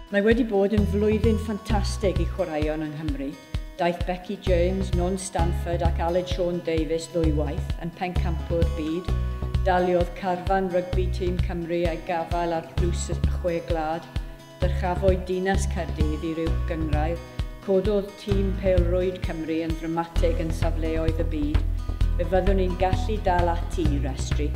Mae wedi bod yn flwyddyn ffantastig i chwaraeon yng Nghymru. Daeth Becky James, Non Stanford ac Aled Sean Davies ddwywaith yn pencampwr byd. Daliodd carfan rygbi tîm Cymru a'i gafael ar dlws y chwe glad. Dyrchafwyd Dinas Caerdydd i ryw gynghrair, cododd tîm pêl-rwyd Cymru yn ddramatig yn safleoedd y byd, fe fyddwn ni'n gallu dal ati i restru.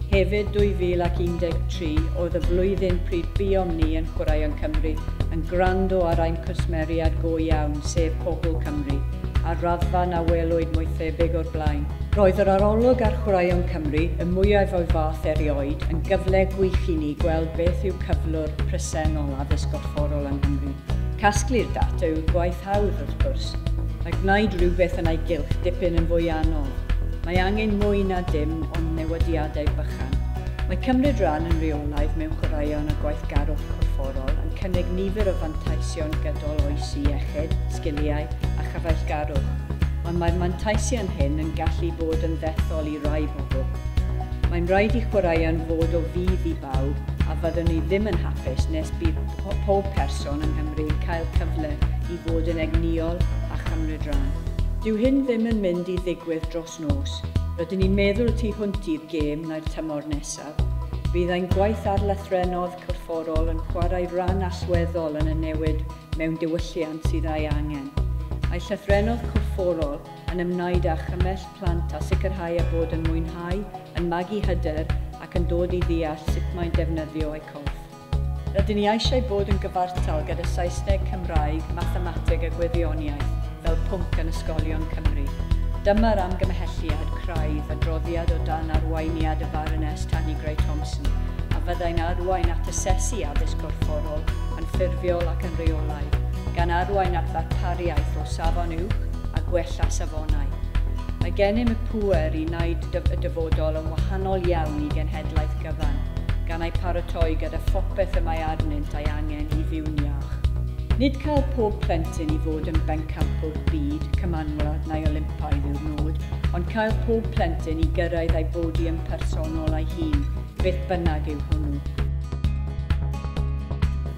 Hefyd 2013 oedd y flwyddyn pryd buom ni yn chwarae yn Cymru, yn gwrando ar ein cwsmeriad go iawn, sef pobl Cymru, ar raddfa na welwyd mwy thebyg o'r blaen. Roedd yr arolwg ar Chwaraeon Cymru, y mwyaf o'i fath erioed, yn gyfle gwych i ni gweld beth yw cyflwr presennol addysg gorfforol yng Nghymru. Casglu'r data yw'r gwaith hawdd, wrth gwrs, a gwneud rhywbeth yn ei gylch dipyn yn fwy anodd. Mae angen mwy na dim ond newidiadau bychan. Mae cymryd rhan yn reolaidd mewn chwaraeon a gweithgarwch corfforol yn cynnig nifer o fanteision gydol oes i iechyd, sgiliau a chyfeillgarwch, ond mae'r manteision hyn yn gallu bod yn ddethol i rai bobl. Mae'n rhaid i chwaraeon fod o fudd i bawb, a fyddwn ni ddim yn hapus nes bydd pob person yng Nghymru yn cael cyfle i fod yn egnïol a chymryd rhan. Dyw hyn ddim yn mynd i ddigwydd dros nos. Rydyn ni'n meddwl tu hwnt i'r gêm neu'r tymor nesaf. Bydd ein gwaith ar lythrennod corfforol yn chwarae ran allweddol yn y newid mewn diwylliant sydd ei angen. Mae llythrennod corfforol yn ymwneud â chymell plant a sicrhau eu bod yn mwynhau, yn magu hyder ac yn dod i ddeall sut mae'n defnyddio eu corff. Rydyn ni eisiau bod yn gyfartal gyda Saesneg, Cymraeg, Mathemateg a Gwyddoniaeth fel pwnc yn ysgolion Cymru. Dyma'r amgymhelliad craidd, adroddiad o dan arweiniad y Baroness Tanni Grey-Thompson, a fyddai'n arwain at asesu addysg gorfforol yn ffurfiol ac yn reolaidd, gan arwain at ddarpariaeth o safon uwch, a gwella safonau. Mae gennym y pŵer i wneud y dyfodol yn wahanol iawn i genhedlaeth gyfan, gan eu paratoi gyda phopeth y mae arnynt ei angen i fyw'n iach. Nid cael pob plentyn i fod yn bencampwr byd, cymanwlad neu Olympaidd yw'r nod, ond cael pob plentyn i gyrraedd ei bodiym personol ei hun, beth bynnag yw hwnnw.